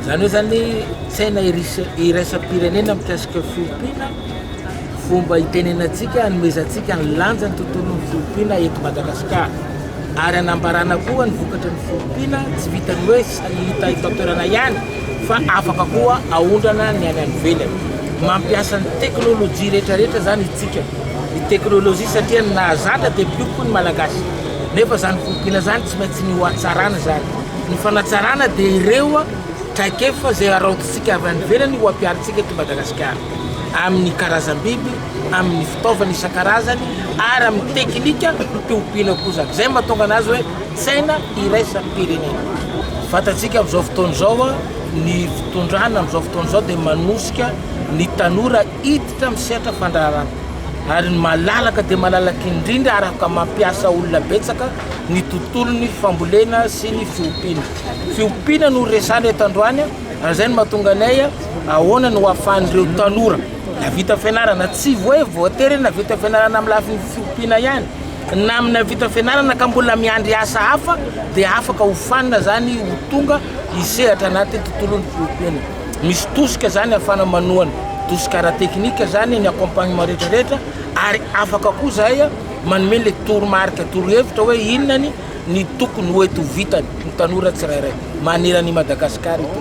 Zany hoe zany saina iraisam-pirenena mikasika fiompiana fomba hitenenantsika hanomezantsika ny lanjany tontolon'ny fiompiana eto Madagasikara ary anambarana koa ny vokatry ny fiompiana tsy vitan'ny hoe Tsy hita eto an-toerana ihany fa afaka koa aondrana ny any any ivelany. Mampiasa ny teknolojia rehetrarehetra izany itsika. Ny teknolojia satria ny nahazatra dia mpiompy ny Malagasy. Nefa izany fiompiana izany tsy maintsy ny hohatsarana izany. Ny fanatsarana dia ireo traikefa izay haraotintsika avy any ivelany ho ampiharintsika eto Madagasikara. Amin'ny karazam-biby, amin'ny fitaovana isan-karazany ary amin'ny teknika fiompiana koa izany. Izay no mahatonga anazy hoe. Saina iraisam-pirenena. Fantatsika amin'izao fotoana izao ny fitondrana amin'izao fotoana izao dia manosika ny tanora hiditra amin'ny sehatra fandraharana ary ny malalaka dia malalaka indrindra araka mampiasa olona betsaka ny tontolon'ny fambolena sy ny fiompiana. Fiompiana no resana eto androany ary izay no mahatonga anay ahoana no ahafahan'ireo tanora navita fianarana tsy hoe voatery navita fianarana amin'ny lafiny fiompiana ihany Na amin'ny nahavita fianarana ka mbola miandry asa hafa dia afaka hofanina izany ho tonga hisehatra anatin'ny tontolon'ny fiompiana. Misy tosika izany ahafahana manohana, tosika ara-teknika izany ny accompagnement rehetra rehetra ary afaka koa izahay manome ilay toromarika, torohevitra hoe inona ny tokony ho ety ho vitany ny tanora tsirairay manerana i Madagasikara ity.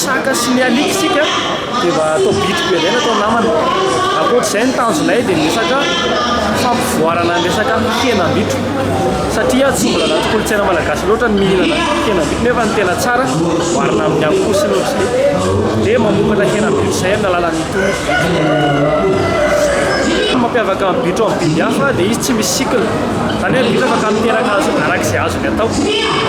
Saka sy ny alika isika dia mba atao bitro be indray ny atao namana. Ankoatr'izay ny tanjonay dia ny resaka fampivoarana ny resaka henam-bitro satria tsy mbola anaty kolontsaina malagasy loatra ny mihinana henam-bitro nefa ny tena tsara oharina amin'ny akoho sy ny otriny dia mamokatra henam-bitro izay amin'ny alalan'ny tonotra. Mampiavaka ny bitro amin'ny biby hafa dia izy tsy misy cycle. Izany hoe ny bitro afaka miteraka arak'izay azony atao.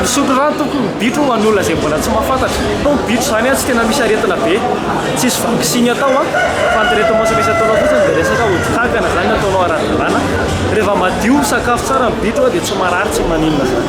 Misotro rano tompoko ny bitro ho an'olona izay mbola tsy mahafantatra. Fa ny bitro izany an tsy tena misy aretina be. Tsisy vaksiny atao an. Fa ny traitement misy ataonao fotsiny dia resaka ody kankana izany no ataonao ara-dalàna. Reheva madio, misakafo tsara ny bitro dia tsy marary, tsy maninona izany.